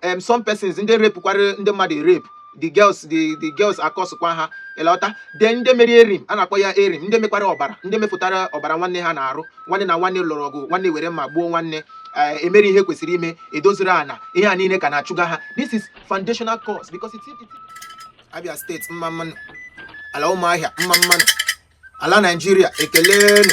em some persons ndị repukwara ndị mmadụ rape the girls the the girls akọsụkwa ha ịlọta then ndị mere erim a na-akpọ ya erim ndị mekwara ọbara ndị mefụtara ọbara nwanne ha n'arụ nwanne na nwanne lụrụ ọgụ nwanne were mma gbuo nwanne eh, emere ihe kwesịrị ime edoziri ana ihe a niile ka na-achụga ha this is foundational curse because it's, it's... Abia steeti mma mma nụ ala ụmụahịa mma mma nụ ala naijiria ekelenu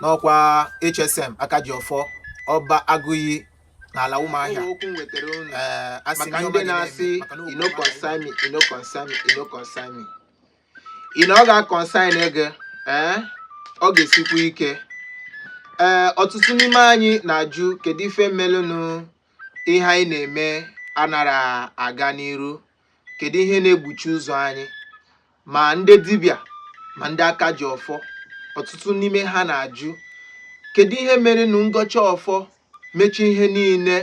n'ọkwa hsm aka ji ọfọ ọba agụiyi n'ala ụmụahịa okwu m wetara unu ee asị maka ndị na-asị e no concern me e no concern me e no concern me e no ọ ga-aconcern gị ee ọ ga-esikwu ike ee ọtụtụ n'ime anyị na-ajụ kedu ife melụnụ ihe anyị na-eme anara aga n'iru kedu ihe na-egbuchi ụzọ anyị ma ndị dibịa ma ndị aka ji ọfọ ọtụtụ n'ime ha na-ajụ kedu ihe mere nụ m gọcha ọfọ mecha ihe niile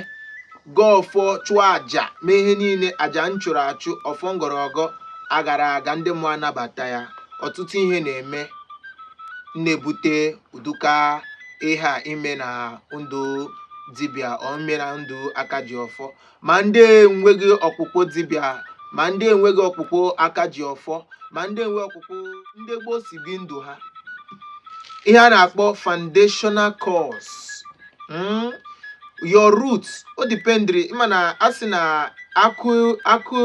gọọ ọfọ chụọ aja mee ihe niile aja m chụrụ achụ ọfọ m gọrọ agọ agara aga ndị mmụọ anabata ya ọtụtụ ihe na-eme na-ebute ụdụka ihe a ime na ndụ dibịa or ime na ndụ aka ji ọfọ ma ndị enweghị ọkpụkpụ dibịa ma ndị enweghị ọkpụkpụ aka ji ọfọ ma ndị nwe ọkpụkpụ ndị gboo si bi ndụ ha ihe a na-akpọ foundational curse mm? your root o dependri ị ma na a sị na akụ akụ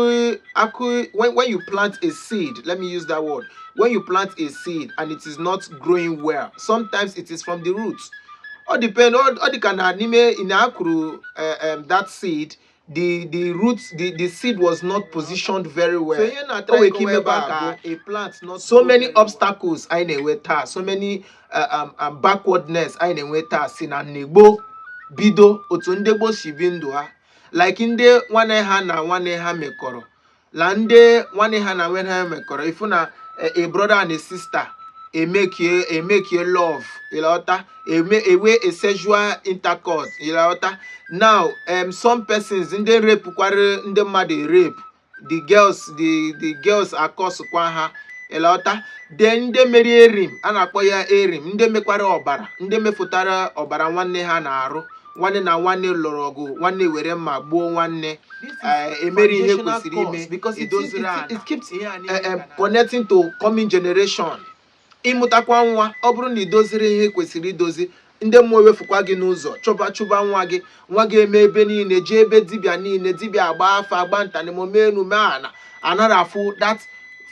akụ when, when you plant a seed let me use that word when you plant a seed and it is not growing well sometimes it is from the root ọ depend ọ dị ka na n'ime na a kụrụ eh, em, that seed the the root the the seed was not positioned very well o nwere ike imebe ka a plant not grow very well. So ihe na try kọwa ebe a so many obstacles anyị na-enwe taa so many uh, um, um, backwardness anyị na-enwe taa si na ndị gboo bido otu ndị gboo si bi ndụ ha like ndị nwanne ha na nwanne ha mekọrọ la ndị nwanne ha na nwanne ha mekọrọ ị fụ na eh, a brother and a sister emekie emekie love ịlọta eme enwee a sexual intercourse ịlọta now um, some persons ndị repukwara ndị mmadụ rape the girls the the girls akọsụkwa ha ịlọta then ndị mere erim a na-akpọ ya erim ndị mekwara ọbara ndị mefụtara ọbara nwanne ha n'arụ nwanne na nwanne lụrụ ọgụ nwanne were mma gbuo nwanne eh, emere ihe kwesịrị ime edoziri ala eh, eh, connecting to coming generation ịmụtakwa nwa ọ bụrụ na idoziri ihe kwesịrị idozi ndị mmụọ ewefukwa gị n'ụzọ chọba chụba nwa gị nwa gị eme ebe niile jee ebe dibịa niile dibịa agba afa agba nta na imo mee enu mee ana anara afụ that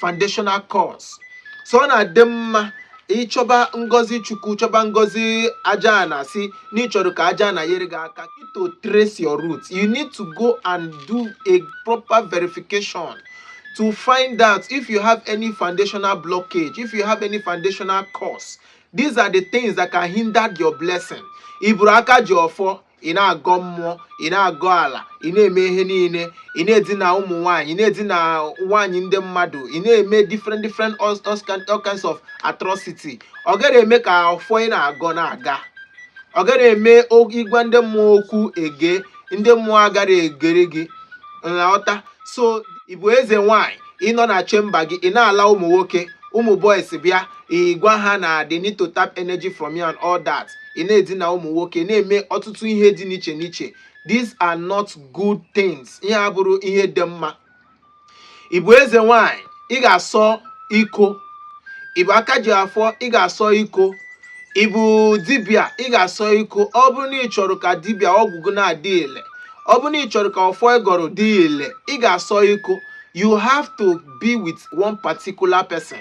foundational curse so ọ na-adị mma ịchọba ngozi chukwu chọba ngozi ajaana sị na ị chọrọ ka ajaana yere gị aka to trace your roots you need to go and do a proper verification to find out if you have any foundational blockage if you have any foundational curse these are the things that can hinder your blessing ị bụrụ aka ji ọfọ ị na-agọ mmụọ ị na-agọ ala ị na-eme ihe niile ị na-edina ụmụ nwaanyị ị na-edina nwaanyị ndị mmadụ ị na-eme different different all all kind- all kinds of atrocity ọ gara eme ka ọfọ ị na-agọ na-aga ọ gara eme o- ị gwa ndị mmụọ okwu ege ndị mmụọ agara egere gị ntị so ị bụ eze nwanyị ị nọ na chamber gị ị na-ala ụmụ nwoke ụmụ boys bịa ị gwa ha na they need to tap energy from you and all that ị na-edina ụmụ nwoke na-eme ọtụtụ ihe dị n'iche n'iche these are not good things ihe a abụrụ ihe dị mma ị bụ eze nwanyị ị ga-asọ iko ị bụ aka ji ọfọ ị ga-asọ iko ị bụ dibịa ị ga-asọ iko ọ bụrụ na ị chọrọ ka dibịa ọgwụ gị na-adị ile ọ bụrụ na ị chọrọ ka ọfọ ị gọrọ dị ile ị ga-asọ iko you have to be with one particular person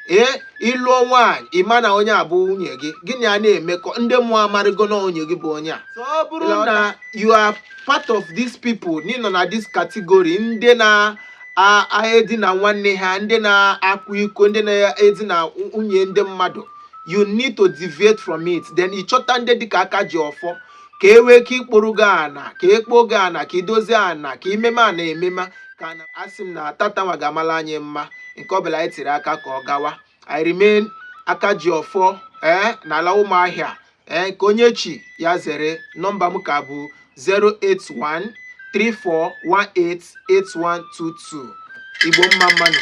ee ị lụọ nwaanyị ị ma na onye a bụ nwunye gị gị na ya na-emekọ ndị mmụọ amarịgo na onye gị bụ onye a so ọ bụrụ na you are part of these people na ị nọ na this category ndị na a- a edina nwanne ha ndị na-akwa iko ndị na-edina nwunye ndị mmadụ you need to deviate from it then ị chọta ndị dịka aka ji ọfọ ka e wee ka i kpuoro gị ana ka e kpuo gị ana ka i dozie ana ka i meme ana emema kana asị m na tata nwa ga-amala anyị mma nke ọbụla anyị tiri aka ka ọ gawa i remain aka ji ọfọ ee na ala ụmụahịa a.k.a onye chi ya zere nọmba m ka bụ 081 34188122 igbo mma mmanụ